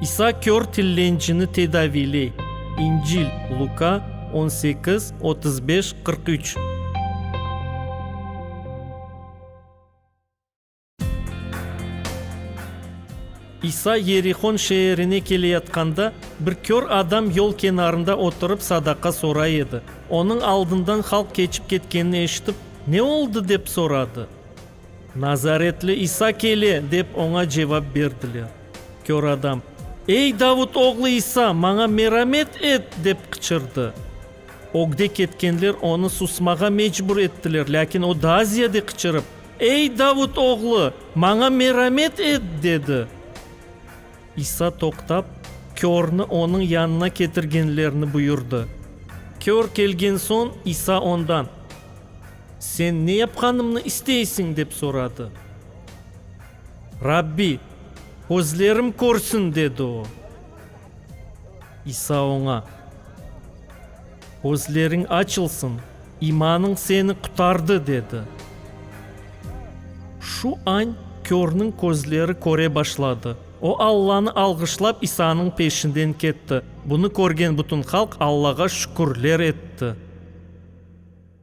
İsa kör tillencini tedaviyley. İncil, Luka, on sekiz, otuz beş, qırq üç. İsa Yerihon şeerine keleyatqanda, bir kör adam yol kenarında oturıp sadaqa soray edi. Onıñ aldından halq keçip ketkenini eşitip, Ne oldı? dep soradı. Nazaretli İsa kele, dep oña cevap berdiler. Kör adam, Ey, Davut oğlu İsa, maña meramet et! dep qıçırdı. Ögde ketkenler onı susmağa mecbur ettiler, lâkin o daa ziyade qıçırıp, Ey, Davut oğlu, maña meramet et! dedi. İsa toqtap, körni onıñ yanına ketirgenlerini buyurdı. Kör kelgen soñ İsa ondan. Sen ne yapqanımnı isteysiñ? dep soradı. Rabbi, közlerim körsün, dedi o. İsa oña, Közleriñ açılsın, imanıñ seni qutardı, dedi. Şu añ körniñ közleri köre başladı. O Allanı alğışlap, İsanıñ peşinden ketti. Bunı körgen bütün halq Allağa şükürler etti.